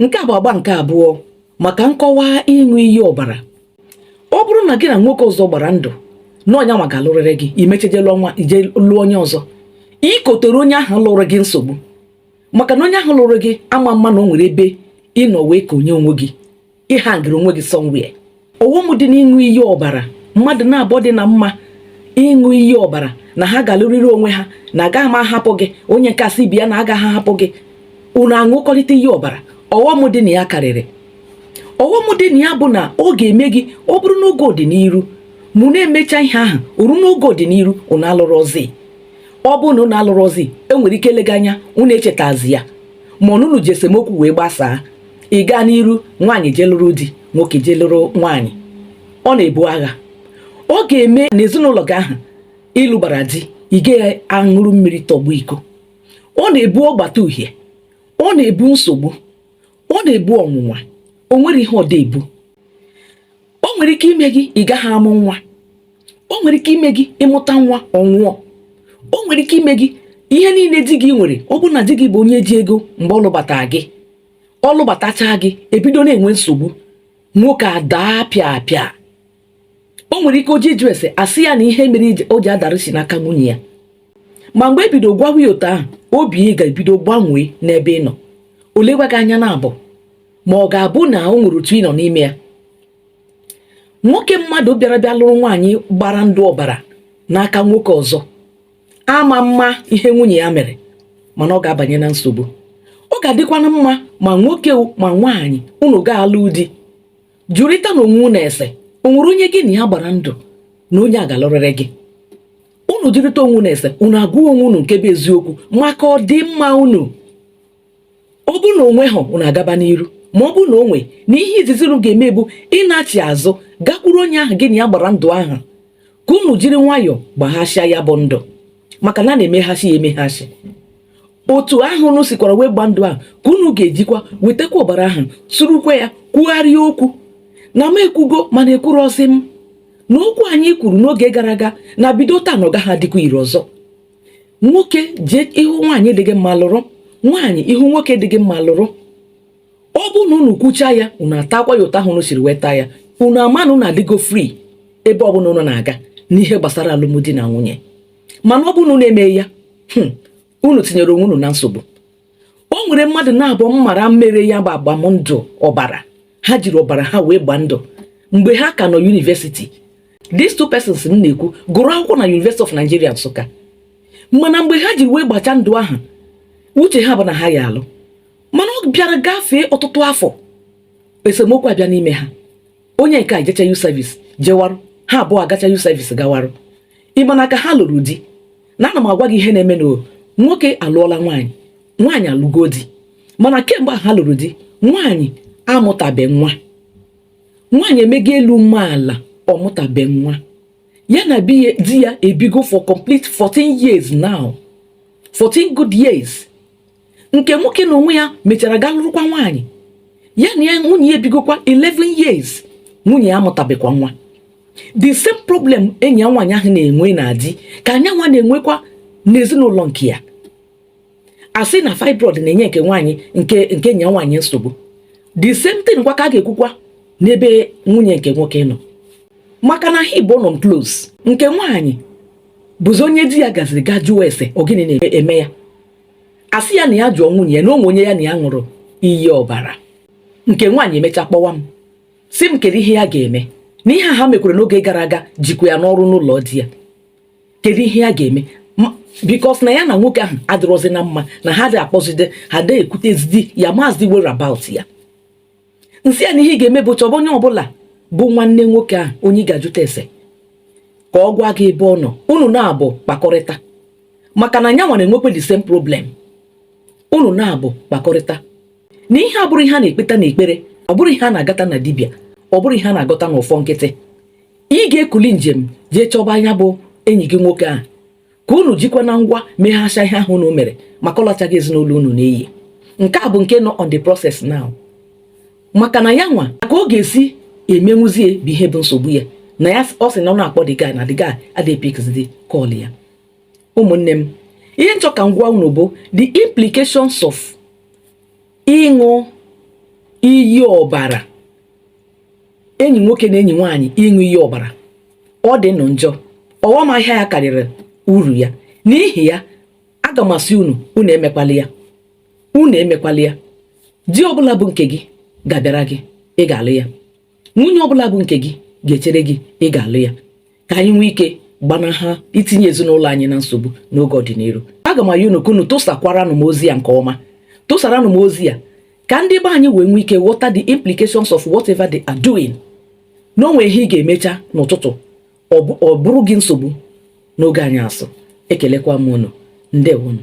nke a bụ agba nke abụọ maka nkọwa ịṅụ iyi ọbara ọ bụrụ na gị na nwoke ọzọ gbara ndụ na onye nwa ga-alụrịrị gị i mecha jee lụọ onye ọzọ i kotere onye ahụ lụrụ gị nsogbu maka na onye ahụ lụrụ gị ama mma na o nwere ebe ị nọ wee konye onwe gị ị hangịrị onwe gị somewhere ọghọm dị n'ịṅụ iyi ọbara mmadụ na-abụọ dị na mma ịṅụ iyi ọbara na ha ga-alụrịrị onwe ha na agaghị m ahapụ gị onye nke a sị bịa na agaghị ahapụ gị unu aṅụkọrịta iyi ọbara ọghọm dị na ya karịrị ọghọm dị na ya bụ na ọ ga-eme gị ọ bụrụ n'oge ọdịnihu ma unu emecha ihe ahụ o ruo n'oge ọdịnihu unu alụrọzi ọ bụrụ na unu alụrọzi e nwere ike eleghị anya unu echetazi ya ma ọ bụ unu ji esemokwu wee gbasaa ị gaa n'iru nwaanyị jee lụrụ di nwoke jee lụrụ nwaanyị ọ na-ebu agha ọ ga-eme na ezinụlọ gị ahụ ị lụbara di ị gaghị aṅụrụ mmiri tọgbọ iko ọ na-ebu ọgbata uhie ọ na-ebu nsogbu ọ na-ebu ọnwụnwa o nwere ihe ọ da-ebu o nwere ike ime gị ị gaghị amụ nwa o nwere ike ime gị ị mụta nwa ọ nwụọ o nwere ike ime gị ihe niile di gị nwere ọ bụrụ na di gị bụ onye ji ego mgbe ọ lụbata gị ọ lụbatachaa gị e bido na-enwe nsogbu nwoke adaa pịa pịa o nwere ike o je ịjụ ese a sị ya na ihe mere o ji adara si n'aka nwunye ya ma mgbe e bido gwawa ya otu ahụ obi ya ga-ebido gbanwee n'ebe ị nọ o lekwa gị anya na abụ ma ọ ga-abụ na o nwere otu ị nọ n'ime ya nwoke mmadụ bịara bịa lụrụ nwaanyị gbara ndụ ọbara n'aka nwoke ọzọ ama mma ihe nwunye ya mere mana ọ ga-abanye na nsogbu ọ ga-adịkwanụ mma ma nwoke ma nwaanyị unu ga-alụ di jụrịtanụ onwe unu ese o nwere onye gị na ya gbara ndụ na onye a ga-alụrịrị gị unu jụrịta onwe unu ese unu agwa onwe unu nke bụ eziokwu maka ọdịmma unu ọ bụrụ na o nweghị unu agaba n'iru ma ọ bụrụ na o nwee na ihe izizi unu ga-eme bụ ịnachi azụ gakwuru onye ahụ gị na ya gbara ndụ ahụ ka unu jiri nwayọọ gbaghasịa ya bụ ndụ maka na a na-emeghasị ya emeghasị otu ahụ unu sikwara wee gba ndụ ahụ ka unu ga-ejikwa wetakwa ọbara ahụ surukwa ya kwugharịa okwu na m ekwugo mana ekwurọzi m na okwu anyị kwuru n'oge gara aga na bido taa na ọ gaghị adịkwa ire ọzọ nwoke jee ị hụ nwaanyị dị gị mma lụrụ nwaanyị ị hụ nwoke dị gị mma lụrụ ọ bụ na unu kwucha ya unu atakwa ya otu ahụ unu siri weta ya unu ama na unu adịgo free ebe ọbụla unu na-aga n'ihe gbasara alụmdi na nwunye mana ọ bụ na unu emeghị ya hmm, unu tinyere onwe unu na nsogbu o nwere mmadụ naabụ m mara mere ya bụ agbamndụ ọbara ha jiri ọbara ha wee gbaa ndụ mgbe ha ka nọ university these two persons m na-ekwu gụrụ akwụkwọ na University of Nigeria Nsụka mana mgbe ha jiri wee gbacha ndụ ahụ uche ha bụ na ha ya alụ mana ọ bịara gafee ọtụtụ afọ esemokwu abịa n'ime ha onye nke a jecha youth service jewarụ ha abụọ agacha youth service gawarụ ị ma na ka ha lụrụ di na ana m agwa gị ihe na-eme na nwoke alụọla nwaanyị nwaanyị alụgo di mana kemgbe ha lụrụ di nwaanyị amụtabe nwa nwaanyị emego elu mee ala ọ mụtabe nwa ya na di ya ebigo for complete 14 years now 14 good years nke nwoke n'onwe ya mechara gaa lụrụkwa nwaanyị ya na ya nwunye ya ebigokwa 11 years nwunye ya amụtabekwa nwa the same problem enyi ya nwaanyị ahụ na-enwe na di ka nyanwa na-enwekwa n'ezinụlọ nke ya a sị na fibroid na-enye nke nwaanyị nke nke enyi ya nwaanyị nsogbu the same thing kwa ka a ga-ekwukwa n'ebe nwunye nke nwoke nọ maka na ha ịbọọ nọ close nke nwaanyị bụzi onye di ya gaziri gaa jụọ ese ọ gịnị na-eme ya a sị ya na ya jụọ nwunye ya na o nwe onye ya na ya ṅụrụ iyi ọbara nke nwaanyị emecha kpọwa m sị m kedu ihe ya ga-eme na ihe ha mekwara n'oge gara aga jikwa ya n'ọrụ n'ụlọ di ya kedu ihe ya ga-eme because na ya na nwoke ahụ adịrọzi na mma na ha adị akpọzide ha adị ekwutezidi ya amazị whereabout ya m sị ya na ihe ị ga-eme bụ chọba onye ọbụla bụ nwanne nwoke ahụ onye ị ga-ajụta ese ka ọ gwa gị ebe ọ nọ unu naabụ kpakọrịta maka na nyanwa na-enwekwa the same problem unu naabụ kpakọrịta na ihe a bụrụ ihe a na-ekpeta n'ekpere ọ bụrụ ihe a na-agata na dibịa ọ bụrụ ihe a na-agọta n'ọfọ nkịtị ị ga-ekuli njem jee chọba nya bụ enyi gị nwoke ahụ ka unu jikwa na ngwa meghasha ihe ahụ unu mere maka ọ lachaghị ezinụlọ unu n'iyi nke a bụ nke nọ on the process now maka na ya nwa ka ọ ga-esi emenwuzie bụ ihe bụ nsogbu ya na ya ọ sị na ọ na-akpọ the guy na the guy adị epikzidi call ya ụmụnne m ihe m chọ ka m gwa unu bụ the implications of ịṅụ iyi ọbara enyi nwoke na enyi nwaanyị ịṅụ iyi ọbara ọ dị nụ njọ ọghọm ahịa ya karịrị uru ya n'ihi ya aga m asị unu unu emekwala ya unu emekwala ya di ọbụla bụ nke gị ga-abịara gị ị ga-alụ ya nwunye ọbụla bụ nke gị ga-echere gị ị ga-alụ ya ka anyị nwee ike gbanaha itinye ezinụlọ anyị na nsogbu n'oge ọdịnihu aga m ayọ unu ka unu tụsakwaranụ m ozi a nke ọma tụsaranụ m ozi a ka ndị be anyị wee nwee ike ghọta the implications of whatever they are doing na o nwe ihe ị ga-emecha n'ụtụtụ ọ bụrụ gị nsogbu n'oge anyasụ ekelekwa m unu ndewonụ